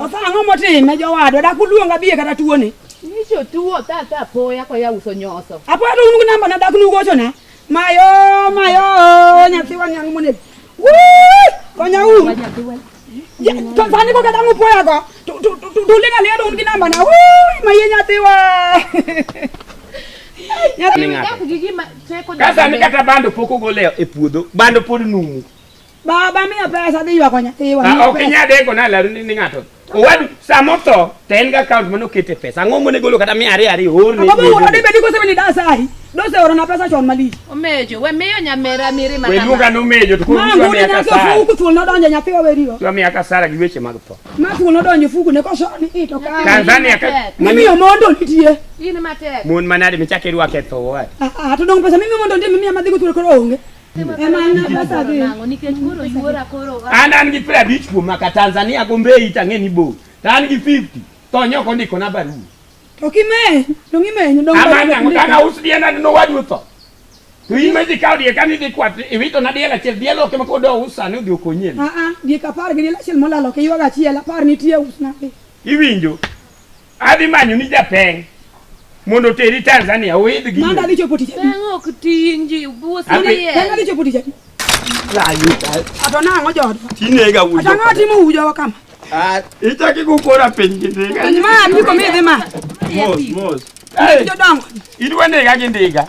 Otho ang'o motime jowadwa dak uluonga biye kata tuone. Nicho tuo tata apoya kwa ya uso nyoso. Apoya to unugu namba na dak nugocho na. Mayo mayo nyathi wanyang' monego. Woo! Konya u. Fani ko kata ngupo ya ko. Tulinga ni adon kinamba na. Woi, maye nyati wa. Nyati nga. Kasa ni kata bando poko goleo e puodho. Bando pod numu. Baba miya pesa dhi ywako nyathi wa. Ah, ok inyade ko na laru ni ng'ato. Owadu Sama otho to en gi account mane okete pesa. Ang'o monego olo kata mia ariyo ariyo orne. Ang'o monego ode bedi kose ni dasa ahi. Dose oro na pesa chon malich. Omejo we miyo nyamera miri mana. We luonga no mejo to kuwa miya kasara. Fuku thuol nodonjo nyathi waweriwa. Kuwa miya kasara gi weche mag tho. Ma thuol nodonjo fuku ne koso ni ito ka. Tanzania ka. Mimi omondo nitie. In matek. Mon manade michake rwake tho wa. Ah, ah to dong pesa mimi omondo ndimi miya madhigo thuol koro onge. An an gi piero abich kuom maka Tanzania Gombei tang'e ni bo. To an gi 50 to nyoko ndiko na barua. To kime, to ngime nyu dong. Ama na ngana usdi ana no wadu to. To in maji kaw die kan idhi kwat iwito na diel achiel diel ok mako do usa ni odhi okonye. Ah ah, die kapar gi diel achiel molalo ke ywaga achiel apar nitie usna. Iwinjo? Adhi manyo ni japeng mondo teri Tanzania oidh gi. Manda dicho poti jadi. Peng ok tinji buo sani ye. Peng dicho poti jadi. Rayu. Ato na ngo jodo. Tinega wujo. Ato ngati mu wujo wa kama. Ah, itaki kukora piny gi ndiga. Ma ndiko mi dhi ma. Mos mos. Hey. Jodongo. Idwa nega gi ndiga.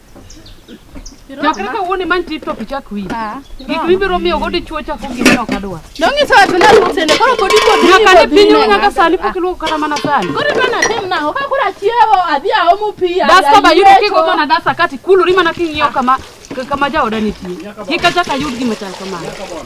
Chakre kawuono imany TikTok ichak wi. Gik mibiro miyo go dichuo chako gik ok adwa. Nong'iso watu na lutene koro kodi kodi. Nyaka ne piny ruo nyaka sani pok iluoko kata mana sani. Koro to natim nang'o ka koro achiewo adhi aomo pi. Dasta ba yudo kigo mana dasta kati kuluri mana king'iyo kama kama jaoda nitie. Kik achak ayud gima chal kamano.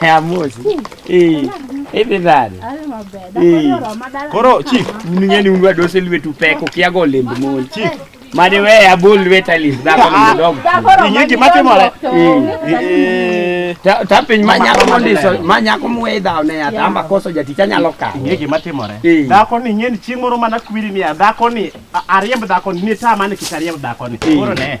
Amosi. Eh. Hivi bado. Eh. Koro chief, uningeni unwa dose lwetu peko kiago lemb mon. Chief. Mane we abol lweta lis dhako ni dog. Ingi gima timore. Eh. Ta ta piny ma nyako mondiso, ma nyako mwe dhaw ne ya tamba koso jaticha nyalo ka. Ingi gima timore. Eh. Dhako ni ngeni chieng' moro mana kwiri ni ya dhako ni a- ariemb dhako ni ni ta mane kik ariemb dhako ni. Koro ne.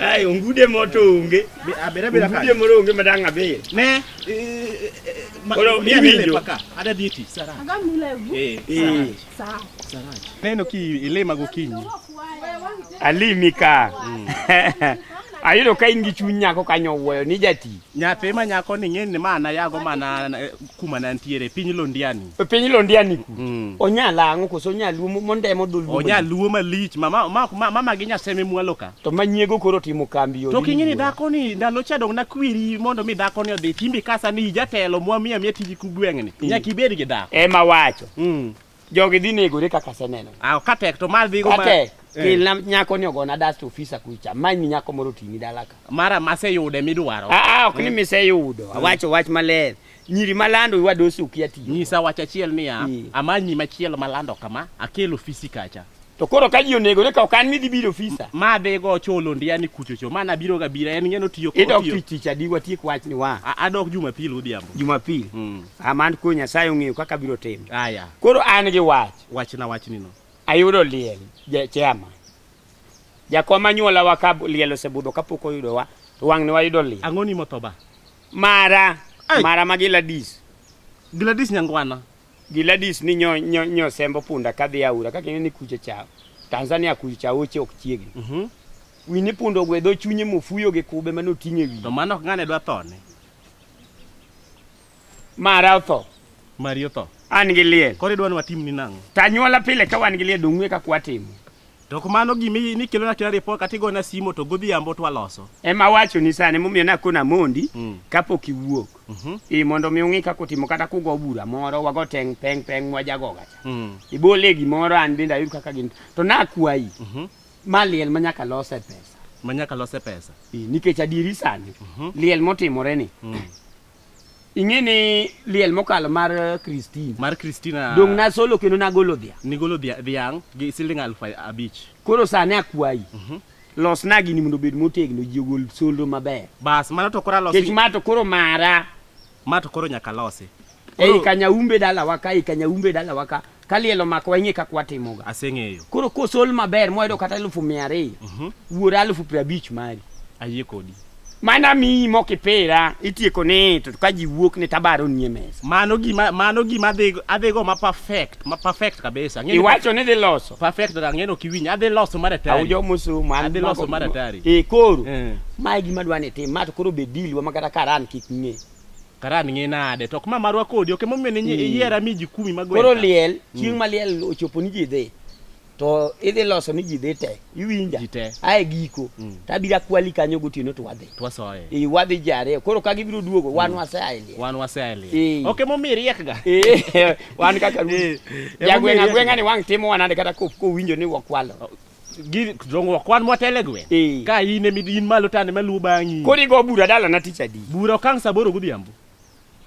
Ai ongude moto onge. Abira bira ka. Ongude moro onge madang abir. Ne. Ora mi winjo. Ada diti sara. Aga mula gu. Eh. Eh. Sara. Sara. Neno ki ilima gokinyi. Alimi ka. Mm. ayudo ka in gi chuny nyako kanyo wuoyo ni jati nyathi ma nyako ni ng'eni mana yago mana kuma ne antiere piny Londiani. E piny Londiani ku. Mm. Onya lango koso onya luo mondemo dul. Onya luo malich mama ma ma ma magi nyaseme mwalo ka. To manyiego koro timo kambi yo. To kinyi ni dhako ni ndalo cha dong na kwiri mondo mi dhako ni odhi timbi kasa ni jatelo mwa miya miya tiji ku gweng'ni. Mm. Nyaka ibed gi dhako. Ema wacho. Mm. Jogi dhi negore kaka aseneno. Ah, ka tek to mar dhigo ma. Tek. Eh. Kelna nyako ni ogona dust officer kucha. Many nyako moro tini dalaka. Mara maseyude midwaro. Ah, ah ok ni mm. miseyudo. Mm. Awacho wach maler. Nyiri malando iwa dosi ukia tiyo. Nyisa wach achiel niya, mm. amanyi machielo malando kama, akelo ofisi kacha. To koro ka ji onego ne ka ok an ni dibiro ofisa. Ma be go cholo ndiya ni kucho cho. Mana biro ga bira en ngeno tiyo ko tiyo. Idok tich tich adi watiek wach ni wa. Adok Jumapil odhiambo. Jumapil. Mm. Aman ko Nyasaye ong'eyo kaka biro timo. Aya. Koro an gi wach. Wach na wach ni no. Ayudo liel je chema. Jakom anyuola wa ka liel osebudho kapok oyudo wa to wang' ne wayudo liel. Ang'oni motoba. Mara. Ay. Mara ma Gladys. Gladys Nyangwana. Giladis ni nyo, nyo, nyo sembo punda kadhi aura kaka ineni kuche chao Tanzania kuche chao oche ok chiegni mm -hmm. wini punda ogwedho chunye mofuyo gi kube mane oting'e wiye to mano ok ng'ane dwa thone mara otho mari otho an gi liel koro idwa ni watimni nang'o tanyuola pile ka wan gi liel dong'we ka kwatimo To kumano gima i- nikelona kila ripot kata igona simo to godhiambo to waloso. Ema awachoni sani momiyo nakona amondi Mm. kapok iwuok. Mhm. Ii mondo mi ung'i kaka utimo kata kugo bura moro wago teng' peng' peng' mwajagoga cha. Mm. Ibole gimoro an bende ayud kaka gin. To nakwayi Mhm. ma liel ma nyaka lose pesa. Manyaka lose pesa. Ii, nikech adieri sani Mhm. liel motimore ni Mm. ing'e ni liel mokalo mar eh, Christine mar Christina dong' nasolo kendo nagolo dhia nigolo dhia- dhiang' gi siling aluf abich koro sani akwayi Mhm. losna gini mondo obed motegno ji ogol solro maber bas mano to koro alosi kech ma to koro mara ma to koro nyaka losi ei Koro- kanyaumbe dalawa ka ei kanyaumbe dalawa ka ka liel omako wang'e kaka watimoga aseng'eyo koro kosol maber moyudo kata elufu mia ariyo Mhm. wuor alufu piero abich mari ayie kodi mana miyi mokipira itieko ni to ka ji wuok ni tabaro nie mesa mano gima mano gima adhigo adhigo ma perfect ma perfect kabisa Ang'eyo ni- iwacho ni dhi loso perfect to ang'eyo ni ok iwinj adhi loso mar atari awujo mosomo an Adhi loso mago- mar atari. e koro Eh. mae gima dwa ni tim ma to koro be deal wa makata karan kik ng'e Karan ng'e nade to ok ma marwa kodi ok emomiyo ne hmm. iyiera mi jikumi ma gweta. Koro liel hmm. chieng' ma liel ochopo ni ji dhi to idhi loso ni ji dhi te iwinja ae giko hmm. to abiro akwali kanyo gotieno to wadhi i wadhi ji ariyo koro ka gibiro duogo wan waseaelie ok emomiyo iriekga wan kaka jagweng' agweng'a ni wang' timo wanade kata kowinjo ni wakwalo gi zongo kwan motele gwe Eh. ka in emi in malo tane maluwo bang'i Koro igo bura dalana tich adi? bura okang' saa aboro godhiambo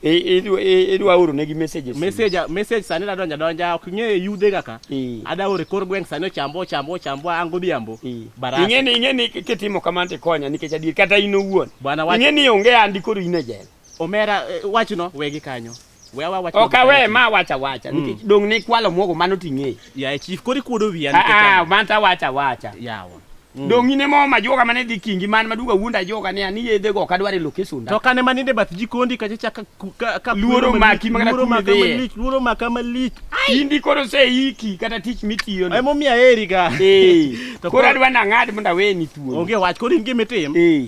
I- idwa- i- Idwa oro negi messages. message message sani nadonja donja ok ng'e yudhe kaka Eh. ada ore kor gweng' sani ochambwa ochambwa ochambwa an godhiambo Eh. barasa Ing'e ni ing'e ni kitimo kamano tikonya nikech adier kata in owuon. Bwana wacho- Ing'e ni onge andi koro in e jela. omera eh, wachno wegi kanyo We awa wach Ok awe ma wacha wacha Mm. nikech dong ne kwalo muogo mano ting'e. Ya chief kori kuodo wiya Ah nikech ah ang'o? man ta wacha wacha. yawa. Mm. Dong ine mo ma joga mane dhi kingi man maduga wuonda joga ne ani yedhe go kadware location. To kane maninde bath jikondi kacha chaka ku- ka ka Luoro kuodo maki malich, mana luoro kuodo maka dhiye. malich, luoro maka malich. Indi koro se iki kata tich mitiyo no. Emo miya eri ga. Eh. To Koro koro- adwa nang'ad mondo aweni thuolo. Onge wach koro in gimitim. Eh.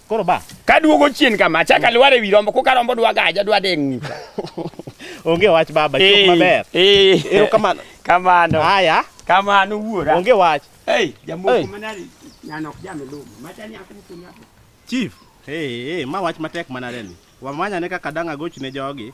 Koro ba. Ka duogo chien kama, achaka mm. lwar e wi rombo, koka rombo dwa gaja, dwa deng' nyicha. Onge wach baba, chok eh, maber. Eh. Ero kamano. Kamano. Haya. Kamano wuora. Onge wach. Hey, jamoko manari nyanok jamelumo. Machani akumkunya. Chief. Hey, hey, ma wach matek manareni. Wamanyane kaka dang' agochne jogi.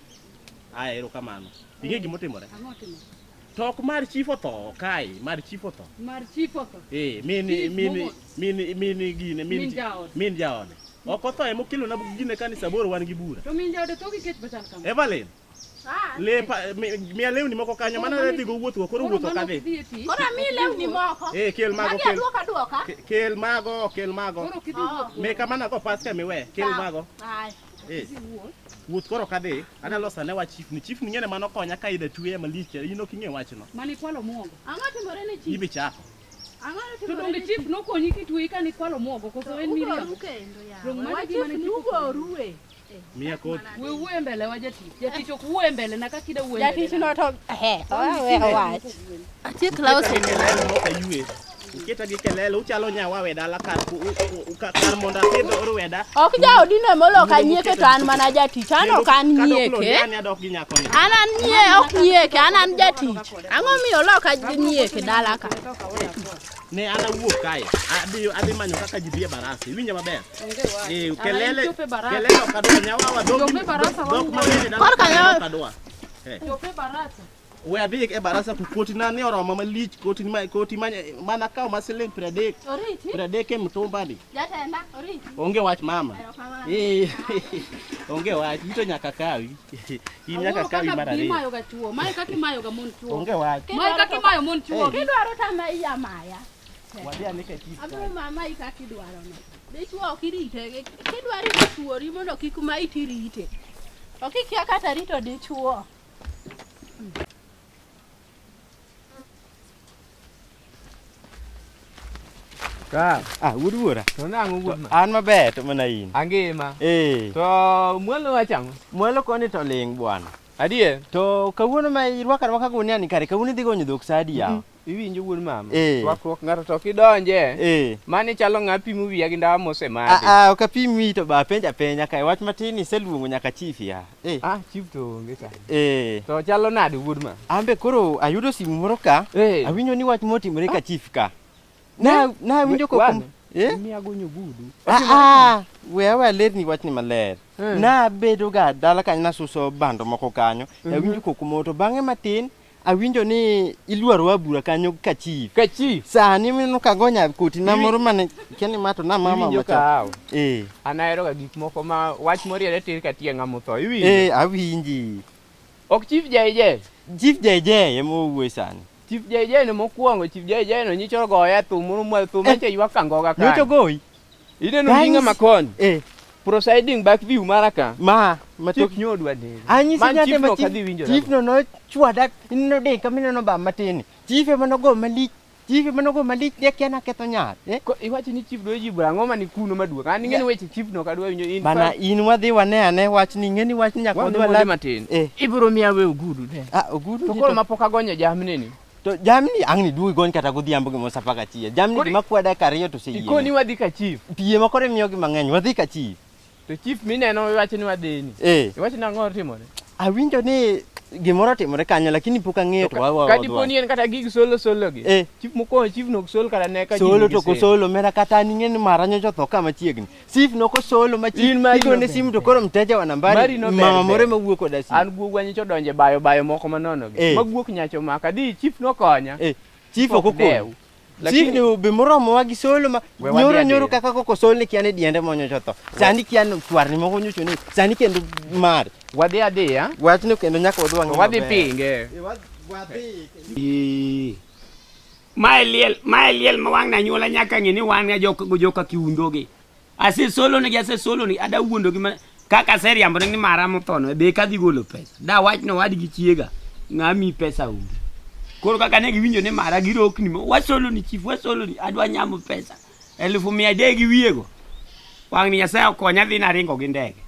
Aya ero kamano. Ing'e gima otimore? Tok mar chief otho kae, mar chief otho. Mar chief otho. Eh, min min min min gine min min jaode. Ok otho emo kilo na gine kanisa bor wan gi bura. To min jaode to gi kech bachal kama. Evelyn. Ah, lepa miya lewni moko kanyo mana ne dhigo wuotho koro wuotho ka dhi koro mi lewni moko eh kel mago kel duoka duoka kel mago kel mago oh. me kamana go paska miwe kel mago Eh. Wuoth koro kadhi, ana losa ne wach chief ni. Chief ni ngene mano konya ka ida tuye malich. Ino kinge wach no. Mani kwalo muogo. Ang'o timore ne chief? Ibi chako. Ang'o timore? To donge chief nokonyi kituye ka ni kwalo muogo koso en miriyo. Ugo kendo ya. Donge mano gima ne chief ugo ruwe. Mia koti. We wuwe mbele wa jatich. Jatich ok wuwe mbele na kaka ida wuwe mbele. Jatich no to he. Owe wach. Atiek lawo sende. Uketa gi kelele uchalo nyawa weda la kar ku kar mondo apidh orweda. Ok jaodi ne molo ka nyieke to an mana jatich. An ok an nyieke. An adok gi nyako ni. An an nyie ok nyieke, an an jatich. Ang'o miyo loka nyieke dala ka? Ne an awuok kae. Adhi adhi manyo kaka ji bie barasi. Winja maber. Eh kelele kelele ok adwa nyawa wadok. Dok ma bende dala. Korka nyawa. Eh. Chope barasa. We adhi e barasa to koti na ni oromo malich koti ma koti ma mana kaw ma siling 30. Oriti. 30 e mtumba ni. Jatenda oriti. Onge wach mama. Eh. Onge wach ito nyaka kawi. In nyaka kawi mara ni. Mayo ga tuo. Mayo kaki mayo ga mon tuo. Onge wach. Mayo kaki mayo mon tuo. Eh. Kidwaro ta ma iya maya. Wadhi ane ka kiti. Abro mama ika kidwaro no. Dichwo ok irite. Kidwaro ituori mondo kik ma iti rite. Ok ikia kata rito dichwo. Ka, Ah, wuod wuora. to nang'o wuod ma? An maber to mana in. Angima. Eh, To mwalo wachang'o? mwalo koni to ling bwana. Adier? To kawuono ma irwaka rwaka gunia ni kare kawuono idhi gonyo dhok sa adi yawa? Iwinjo wuod mama? Eh. Rwakruok ng'ato to kidonje. Eh. Mani chalo ng'a pimo wiya gi ndawa mose madi. Ah ah ok apim wiyi to ba penja penja kae wach matin iseluongo nyaka chief ya. Eh. Ah chief to onge sa. Eh. To chalo nade wuod mama? Ambe koro ayudo simu moro ka. Eh. Awinjo ni wach motimore ka chief ka. Na na awinjo ko kum. Eh? Miya gonyo gudu. Ah ah we awe alerni wach ni maler. Eh. Na bedo ga dala kanyo nasuso bando moko kanyo. Mhm. Awinjo ko kumoto bang'e matin Awinjo ni iluaro wa bura kanyo ka chief. Ka chief. Sani mino kagonya koti na moro mane keni mato na mama Iwinjo macha. kahawa. Eh. An ahero ga gik moko ma wach moriere tir ka tie ng'ama otho. Iwinjo? Eh, awinji. Ok chief JJ. Chief JJ ema owuoyo sani. Chief JJ no mokuongo, Chief JJ no nyicho goya thum moro mwa thum manche ywak kangoga kanyo. Nyocho goyi. Ineno Guys. ndinga ma koni. Eh, Prosiding back view mara ka. ma ma Chief nyodu adere. anyisi Man nyate chief ma no chief- kadhi winjo. chief no nochwada ineno de kama ineno ba matin chief ema nogo malich chief ema nogo malich ne kia naketho nyar eh? Ko iwacho ni chief dwa jibu ang'o ma ni kuno maduong'. An ing'e ni weche chief no kadwa winjo in. bana fact, in wadhi wane ane wach ni ing'e ni wach ni nyaka wadhi wadhi wala matin. Eh. Ibiro miya we ogudu de. ah ogudu To ni koro to- ma pok agonyo jamni ni. To jamni ang' ni duogi koni kata godhiambo gima sa paka chiya. Jamni Kori- gima kwa dakika ariyo to Ikoni oseyie. wadhi ka chief. Pie ma koro imiyogi mang'eny wadhi ka chi. To chief mineno iwacho ni wadhini. Eh, Iwacho ni ang'o otimore? awinjo ni gimoro otimore kanyo lakini pok ang'eyo to wawa. Ka dipo ni en kata gig solo solo gi. Eh. Chief mokwongo chief nok sol kata ne ka Solo to kosolo mera kata ning'e ni mara nyocha otho kama chiegni. Sif noko solo ma chi igone simu to koro mteja wa nambari mama more ma wuok koda simu. An guog wanyi cho donje bayo bayo moko manono gi. Eh. Ma guok nyacho maka di chief nokonya. Eh. Chief okokonyi. Lakini Chief be moromo wa gi solo ma nyoro nyoro kaka koko sol ni kiane diende monyo chotho. Sani kian twar ni moko nyocho ni sani kendo mar. Wadhi adhiya. Wachno kendo nyaka wadwang'. Wadhi pinge. Wadhi. Mae liel, mae liel ma wang' na nyuola nyaka ng'e ni wan ga jok go joka kiundo gi. Ase solo ne gi ase solo ni ada wuondo gi ma kaka ase riambo ne ni mara mothono be kadhi golo pesa. Da wach no wad gi chiega ng'a mi pesa onge. Koro kaka ne giwinjo ni mara girokni mo wasolo ni chief wasolo ni adwa nyamo pesa. Elufu mia adek gi wiye go. Wang' ni Nyasaye okonya adhi naringo gi ndege.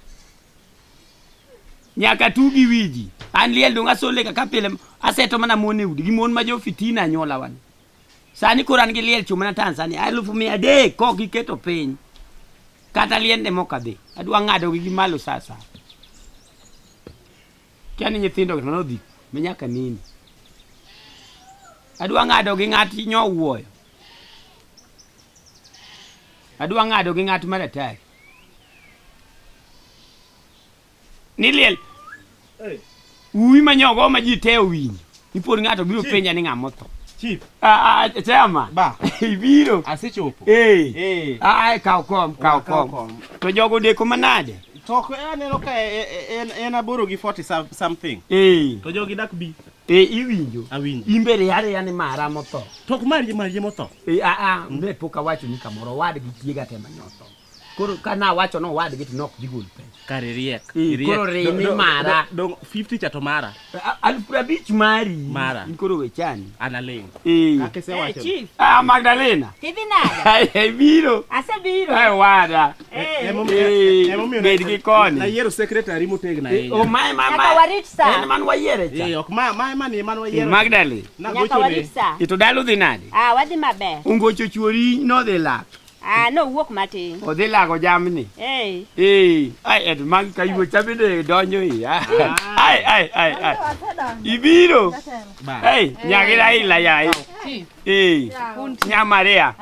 nyaka tu gi wiji an liel dong asole kaka pile aseto mana mon e udi gi mon ma jo fitina anyuola wan sani koro an gi liel chung' mana tanzania alufu mia adek kok giketo piny kata liende mok adhi adwa ng'adogi gi malo sa sa kia ni nyithindo to nodhi ma nyaka nini adwa ng'ado gi ng'at nyowuoyo adwa ng'ado gi ng'at maratari ni liel uwi ma nyogo ma ji te owinjo ipod ng'ato biro Chief. penja ni ng'a motho Chief, Ah, ah, chama ba, ibiro asechopo. Eh. Eh. Ah, ah, kaw kom kaw Ah, kaw kom kom. to jogo deko manade To ko aneno ka e- e- en en aboro gi 40 some- something. Eh, To jogi dak bi eh, iwinjo awinji. imbe riaria ni mara motho To ko mari mari motho. Eh, ah, ah, ne pok awacho ni kamoro wadgi chiega te manyoth koro ka na wacho no wadgi to nok digol pesa kare riek Mm, koro rimi mara. dong 50 chato mara A- alfu prabich mari Mara. in koro wechani analing Eh. kaka isewacho Chief, ah magdalena tidhi nade? Ai, ai, biro Asebiro. ai wada Eh, Eh, emomiyo bed gi koni. nayiero secretary motegna Eh, oh, ahinya mae ma- Nyaka ma- warit saa. en man wayiere cha Eh, ok ma ma ma ni man wayiero magdalena Nyaka nagochone warit saa. ito dalo dhi nade Ah, wadhi maber. ungocho chuori nodhi lak Ah, nowuok matin. Odhi lago jamni. Hey. Ee, ai et mag kayuo cha bende donjo i. Ai ai ai ai. Ibiro. Ei, nyagi dai la yai. Ee, nya Maria.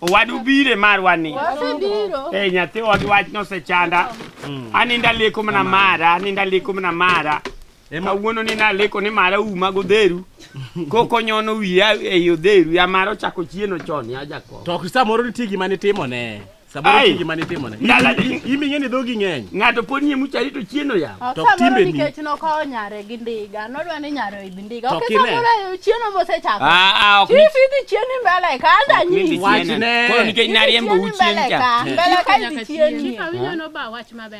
Wadu bire marwa ni. Wasebiro. Ei, nyathi wadu wach nosechanda. Aninda leko mana mara, aninda leko mana mara. ema wuono ni naleko ni mara uma godheru koko nyono wiya ei odheru ya mara ochako chieno chon ya jakom to samoro nitie gima nitimone samoro nitie gima nitimone iming'e ni dhogi ng'eny ng'ato pod nie muchari to chieno ya ah, to timbe ni nikech nokawo nyare gi ndiga nodwa ni nyare oidh ndiga ok samoro chieno mosechako ah, ah, chief idhi chieni mbele ka anda nyisi wachne koro nikech nariembo u chien cha mbele ka idhi chieni chief awinjo no ba wach maber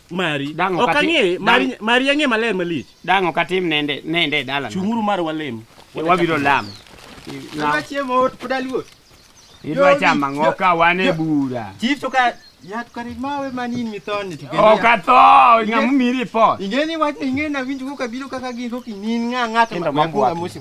mari Dang' ok ok ati- ang'eye mari dang'- mari ang'e maler malich Dang' ok atim nende nende e dalana. chung'uru mar walem E, Wabiro lamo. I- na- Kaka chiemo ot pod aluor. Idwa chamo ang'o ka wan e bura? Chief to ka yat kare mawe manin mithoni to kendo Ok ya- atho, ng'ama omi report. Ingeni wach ingeni awinjo kokabiro kaka gin kokinin ng'a ng'ato Kendo ma- mabuok. mabuonga mosi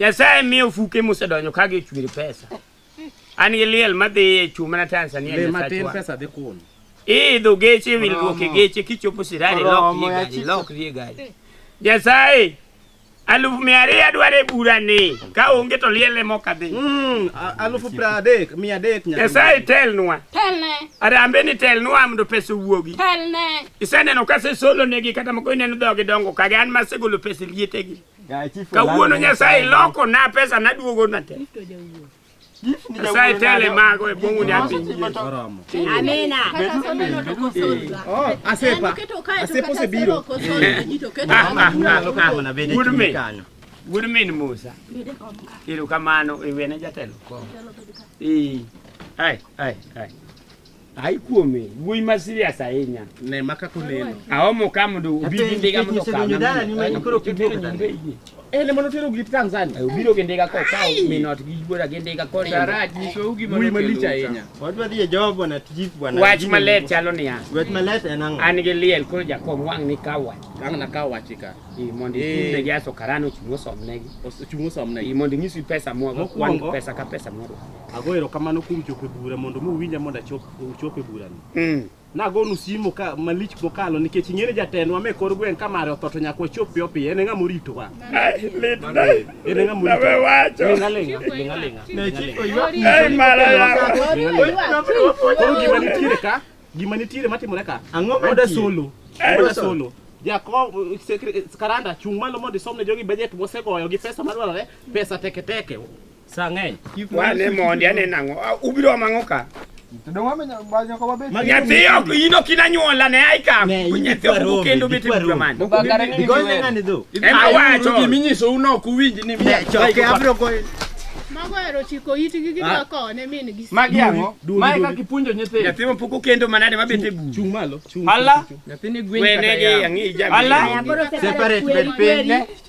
Nyasaye miyo fuke mosedonjo ka gichwir pesa. An gi liel madhi e chuma na Tanzania Le matin Nyasachwa. pesa dhi kun. Iidho geche wilruok e Oromo. geche kichopo sirari lok Oromo, rie gari yachicho. lok rie gari. Nyasaye alufu mia ariyo adwaro e bura ni ka onge to liel ema ok adhi. Mm, a- alufu pra adek, mia adek nyaka. Nyasaye telnwa. Telne, Arambe ni telnwa mondo pesa owuogi. telne. Iseneno ka asesolonegi kata moko ineno dhogi dongo kage an masegolo pesa e lietegi. Kawuono Nyasaye loko na pesa na duogo na te. Nyasaye tele mago e bongu ni api. Amina. Oh, asepa. Asepo se biro. Good me. Good me ni Musa. Iru kamano iwene jatelo. Eh. Ai, ai, ai. Ai kuome, wuoyi ma serious ahinya. Ne maka kuneno. Aomo ka mondo obidi ndiga mondo okaw. Dala ni mani koro kibiro nyombe yie. Eh, ne mondo tero glit Tanzania. Eh, obiro gi ndiga ko kaw minot gi bora gi ndiga ko. Daraj nyiso ugi ma malich ahinya. Wadwa dhi e job bwana tijip bwana. Wach malet chalo niya. Wach malet en ang'o? An gi liel koro jakom wang' ni kaw wach. Wang' na kaw wach ka. Ii mondo ikunde gi aso karano chungo somnegi. Chungo somnegi. Ii mondo inyisi pesa mwa go kwan pesa ka pesa mwa. Ago erokamano kuom chopo e bura mondo mi uwinja mondo achop uchop e burani. Mm. Nagonu simu ka malich mokalo nikech ing'ere jatendwa me kor gweng' ka mare otho to nyaka wachop piyo piyo. En e ng'ama oritowa. Ai, lit na. En e ng'ama oritowa. Nawe wacho. Ling' aling'a, ling' aling'a, ling' aling'a. Ai, mara yako. Koro gima nitiere ka, gima nitiere matimore ka. Ang'o Oda mantie? solo. Eh, Oda solo. solo. Jakom sekre- karanda chung' malo mondo isomne jogi bajet mosegoyo gi pesa madwarore, pesa teke teke. Sang'eny. Wane mondi aneno ang'o? Ah, Ubiro mang'o ka? Nyathi ok in ok inanyuola ne ai kam. Nyathi ok bu kendo bete bura man. Ema wacho. Giminyiso uno ok uwinj ni mi. Choke abro goyo. Mago ero chiko itgi gidwa kone min gi. Magi ang'o? Mae ka kipunjo nyithindo. Nyathi ma pok okendo manade ma bete buru. Chung malo. Chung. Ala. Nyathini gwen Wene gi ang'i jabi. Ala. Separate bed piny.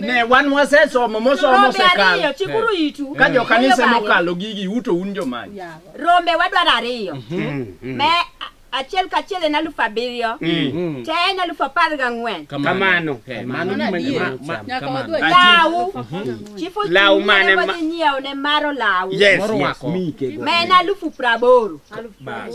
ne wan wasesomo mosomo Rombe osekalo ariyo, chikuru itu. ka jo kanise Oyo bale. mokalo gigi uto un jomany Rombe wadwaro ariyo. Me a- achiel kachiel en alufu abiriyo. Te en alufu apar gang'wen. Kamano. Eh, mano Mano gima- adier. ma- ma- Nyaka kamano. wadwa Lawu. Chifu Lawu Junior mane ma- wadhi nyiewo ne maro lawu. Yes, Moro yes, wako. mi kego. Ma en alufu praboro. Bas.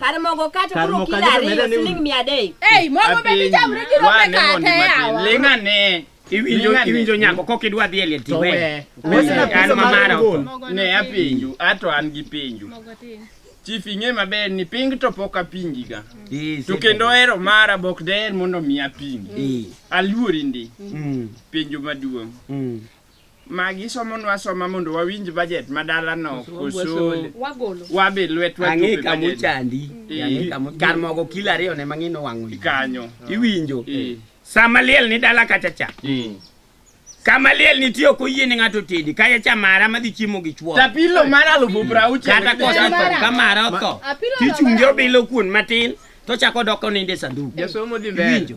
Kare mogo kata Kar koro mogo kilo kata ariyo medo ni- siling mia adek. Ei, mogo be dichamre gi rombe kata yawa. Ling' ane. Iwinjo Ling' ane. iwinjo nyako kok idwa dhi e liel To tiwe. we. Wesi na An pizza ma mar mara. ngol. Ne apenju, ato an gi penju. Chief ing'e maber ni ping to pok apingiga. Eh, To kendo hero mara bok daher mondo mi apingi. Eh. Aluori ndi. Mm. Penjo maduong'. Mm. Magi somonwa asoma mondo wawinj budget ma dala no koso Wagolo. wabe lwetwa Ang'e chope kama budget. ochandi. Eh. Ang'e kama kar mogo kilo ariyo ne mang'e nowang'o iyi. Kanyo. Iwinjo. Eh. Sama liel ni dala kacha cha. Eh. Kama liel nitie ok oyie ni ng'ato tedi. Kaya cha mara madhi chiemo gi chwo. Tapilo mar alufu prauchiel. Kata kosa Mara. ka mara otho. Apilo Tichunge laba. obilo kuon matin to chako doko ninde sanduku. Jasomo dhi mbele. Iwinjo.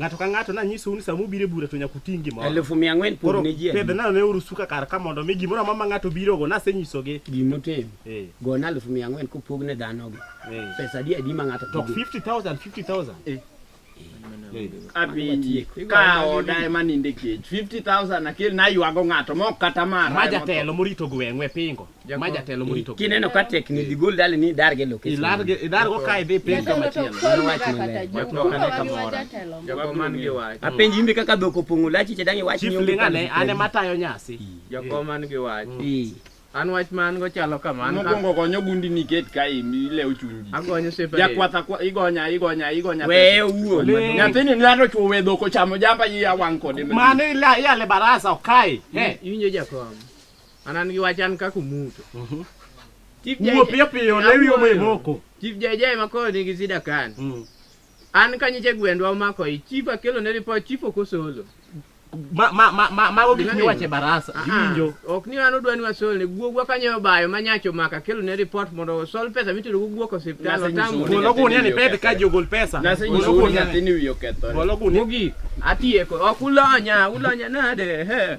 Ng'ato ka ng'ato nanyisou ni sama ubiro e bura to nyaka uting' gimoro. Elfu mia ang'wen pog ne ji adi? Pedhna ne orusuka kar ka mondo mi gimoro amora ma ng'ato birogo nasenyisogi. Gimotim. Eh. Gona elfu mia ang'wen kopog ne dhanogi. Eh. Pesa adi adi ma ng'ato To pog? 50,000 50,000. Eh. Abi ka oda ema ninde kech 50000 akel naywago ng'ato mok kata mara. Ma jatelo morito gweng'u e pingo. ma jatelo morito kineno ka tek ni digol dali ni darge location ilarge idargo kae dhi piny kama chielo Mano wach maler. wach no kane kamora jago man gi wach apenj imbe kaka dhok opong'o lachi che dangi wach chief ni onge linga ne pangruok. ane matayo nyasi jago man gi wach Ii. an wach man go chalo kama an ka- Mokwongo gonyo gundi ni ket ka imi lew chunji. agonyo separate Jakwatha kwa igonya igonya igonya. weye owuon Lee. Nyathini ng'ato chwo wedho kochamo jamba yi awang' kode. mano ila- iyale barasa okae Eh, iwinjo jakom An an gi wach an kaka Omuto. Chief Wuo Jay- piyo piyo, lewi omo e moko. Chief Jay Jay ma koro nigi sida kan. Mm. An ka nyiche gwendwa omako i chief akelo ne report chief ok osolo. Ma ma ma ma mago gik miwache barasa. Ah, Iwinjo. Ok ni an odwani wasol ne guogwa kanyo bayo ma nyacho maka kelo ne report mondo osol pesa mitero go guok osiptal Nase nyiso otamo. ni- Golo gunia ni pep ka jogol pesa. Nase Golo nyiso ni gunia ni- nyathini wiye okethore. Golo gunia. Mogik atieko ok ulonya ulonya nade he.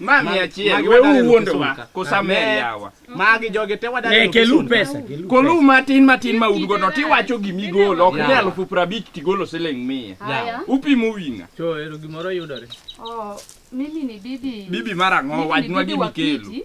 Ma mia achiel, Magi we wadare uwuondowa, Lukesunka. Amen. kosamehe yawa. Magi jogi te wadare Ne, kelu Lukesunka. pesa, kelu Kolu matin matin ma un godo, tiwacho gima igolo, ok ni Yawa. alufu prabich tigolo siling mia. Haya. Upimo winga. Cho, ero gimoro yudore. Oh, mimi ni bibi. Bibi mara ng'o, Mimi ni wajnwa bibi gini wa kelu. Kiti.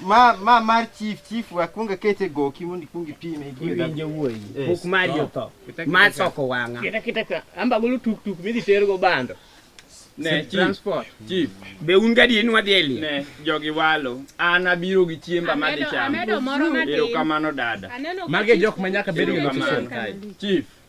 ma ma mar chief chief wakwonga kete goki mondo ikwong ipime iwinjo wuoyi pok mari otho ma soko wang'a kita kita ka amba golo tuk tuk midhi ter go bando ne transport chief be un gadi en wadhi eli ne jogi walo an abiro gi chiemba ma dhi chamo amedo moro ma erokamano dada mage jok ma nyaka bedo gi chief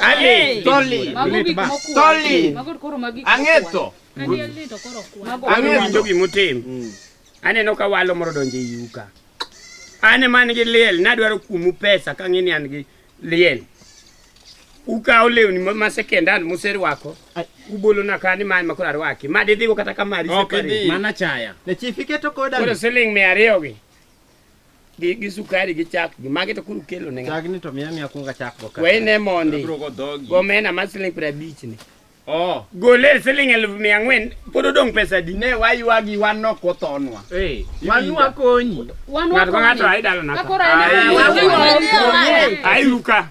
Ade. Tolly. Mago gik mokuwa. Tolly. Mago koro magi. Ang'eto. Mago winjo gimotim. Mm. Aneno ka walo moro donjo e yuka. An ema an gi liel, nadwaro kuomu pesa ka ng'e ni an gi liel. Ukawo lewni ma sekendan muserwako, ubolona ka ni man makoro arwaki. Ma didhigo kata ka mari separe. Mana chaya. Ne chief iketo koda. Koro siling' mia ariyogi. gi, gi sukari gi chak gi magi to kuru kelo ne chak ni to miya miya kunga chak go ka wei ne mondi go mena ma siling pra bich ni oh gole siling elfu mia ngwen podo dong pesa di ne wai wagi wan no ko tonwa eh wan wa konyi wan wa konyi ngato ai dalana ka ai ruka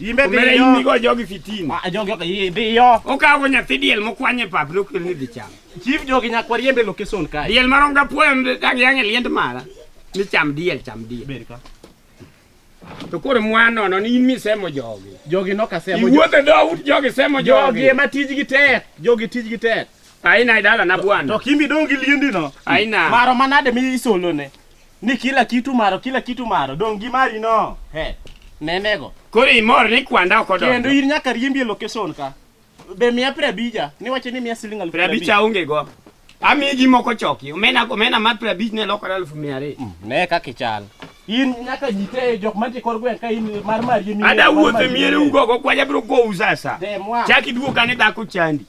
Imbe Omera dhi yo. imigo jogi fitin. Ah, jogi ok dhi yo. Okawo nyathi diel mokwany e pap nokel ni dhi cham. Chief jogi nyakwar yembe location kae. Diel marom ga puoyo dag yang e liend mara. Ni cham diel cham diel. Ber ka. To koro mwa nono ni in misemo jogi. Jogi nok asemo. Iwuotho dhout jogi semo jogi. Jogi ema tijgi tek. Jogi tijgi tek. Aina idala na bwana. To kimbi dongi liendi no. Aina. Maro manade mi isolone. Ni kila kitu maro, kila kitu maro. Dong' gi mari no. He. Nenego. Koro imor ni kwanda ok odonjo. Kendo in nyaka riembi e location ka. Be miya pre abija. Ni wacho ni miya siling alufu pre abija. Pre abija onge go. Ami gi moko choki. Omena omena ma pre abija ne lokore alufu mia ariyo. Mm, ne kaka ichal. In nyaka jite jok mantie kor gweng' ka in mar mar yemi. Ada wuothe miere ugo go kwaja bro go usa sa. Chaki duoka ne dhako chandi.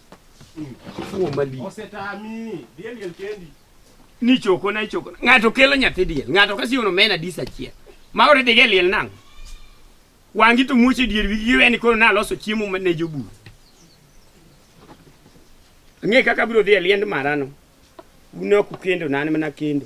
Mm. Fuo mali. Osetami. Diel diel kendi. ni choko na choko na. ng'ato kelo nyathi diel ng'ato ka siwono mena dis achiel ma ore dige liel nang' wangi to muoche dier wigi giwe ni koro naloso chiemo ma- ne jobur ang'e kaka abiro dhi e liend marano un ok ukendo na an mana kendo